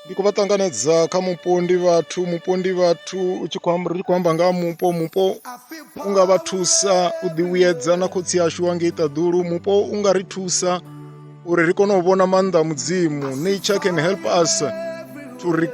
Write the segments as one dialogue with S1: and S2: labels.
S1: ndi khou vha ṱanganedza kha mupo ndi vhathu mupo ndi vhathu u tshi khou amba- ri tshi khou amba nga ha mupo mupo u nga vha thusa u ḓivhuyedza na khotsi ashu wa ngei ṱaḓulu mupo u nga ri thusa uri ri kone u vhona maanḓa a mudzimu nature can help us to re-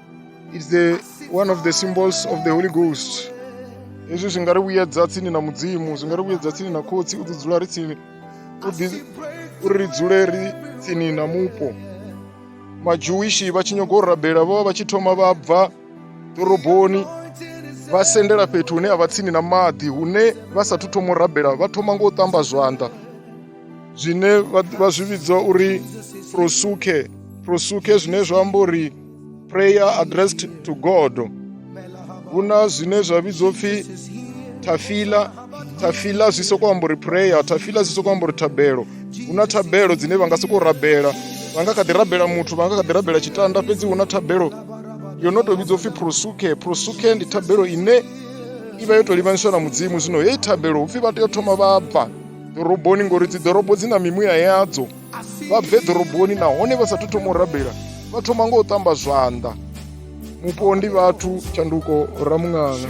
S1: It's the one of the symbols of the Holy Ghost. Hezwi zwi nga ri vhuyedza tsini na Mudzimu, zwi nga ri vhuyedza tsini na Khotsi, u ḓi dzula ri tsini u ḓi uri ri dzule ri tsini na mupo. Majewishi vha tshi nyaga u rabela vho vha vha tshi thoma vha bva ḓoroboni vha sendela fhethu hune a vha tsini na maḓi hune vha sathu thoma u rabela vha thoma ngo u ṱamba zwanḓa zwine vha zwi vhidza uri prosuke prosuke zwine zwa amba uri prayer addressed to god hu na zwine zwa vhidzwa pfhi tafila tafila zwi sokou amba uri prayer tafila zwi sokou amba uri thabelo hu na thabelo dzine vha nga sokou rabela vha nga kha ḓi rabela muthu vha nga kha ḓi rabela tshitanda fhedzi hu na thabelo yo no tou vhidzwa upfhi prosuke prosuke ndi thabelo ine i vha yo tou livhanyiswa na mudzimu zwino heyi thabelo upfhi vha tea u thoma vha bva ḓoroboni ngori dzi ḓorobo dzi na mimuya yadzo vha bve ḓoroboni nahone vha sa thu thoma u rabela vha thoma ngo u tamba zwanḓa mupo ndi vhathu tshanduko ramuṅanga